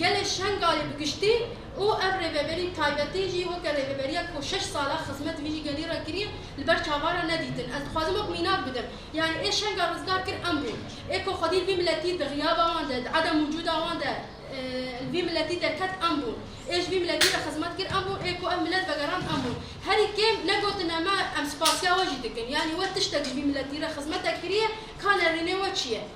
Gelê Şengalê bi giştî û ev rêveberî taybetî jî weke rêveberiya ku şeş sal e xizmet vî gelî re kiriye li ber çavan re nedîtin. Ez dixwazim wek mînak bidim. Yanî ê Şengal rizgar kir em bûn. Ê ku xwedî li vî miletî di xiyaba wan de, di edem wicûda wan de li vî miletî derket em bûn. Ê ji vî miletî re xizmet kir em bûn. Ê ku ev milet vegerand em bûn. Herî kêm negotine me em spasiya we jî dikin. Yanî we tiştek ji vî miletî re xizmetek kiriye ka nerînê we çi ye?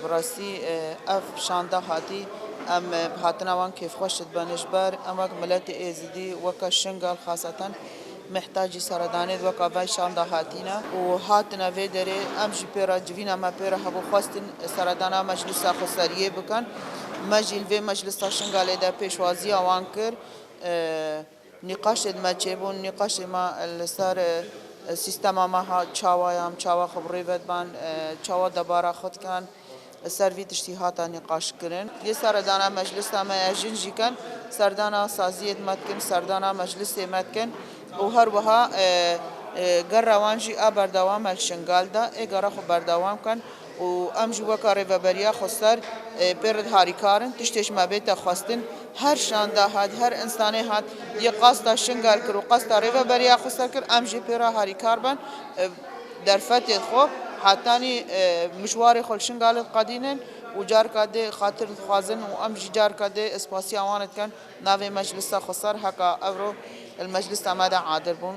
Bi rastî ev şanda hatî em bi hatina wan kêfxweş dibin ji ber em wek miletê êzidî weke Şingal xasatan mihtacî seredanê di weka vay şanda hatîne û hatine vê derê em jî pê re civîna me pê re hebû xwestin seredana meclisa xweseriyê bikin me jî li vê meclisa Şingalê de pêşwaziya wan kir. Nîqaşên me çêbûn, nîqaşên me li ser sîstema me hat, çawa ye em, çawa xwe bi rê ve diban, çawa debara xwe dikin, li ser vî tiştî hate nîqaşkirin. Yê seredana meclisa me ya jin jî kin, serdana saziyên me dikin, serdana meclisê me dikin û her wiha gera wan jî a berdewam e li Şingal de, ê gera xwe berdewam bikin. û em ji weka Rêveberiya Xweser pê re harîkar in, tiştê ji me bête xwestin, her şanda hat, her însanê hat yê qasta Şingal kir û qasta Rêveberiya Xweser kir, em jî pê re harîkar ben, derfetê xwe hetanî mijwarê xwe li Şingalê diqedînin û careke dê xatir dixwazin û em jî careke dê spasiya wan dikin navê Meclisa Xweser heke ewro li meclisa me de adir bûn.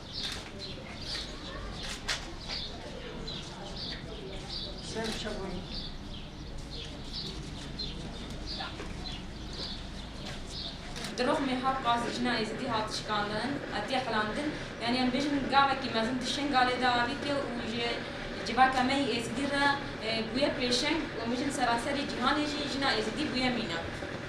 Di rexmê Helqa Zicina Êzidî hat şikandin, hatiye xilandin. Yanî em bêjin gavekî mezin di Şingalê de avîtiye û ji civaka me yî Êzidî re bûye pêşeng û em bêjin seraserê cîhanê jî jina Êzidî bûye mîna.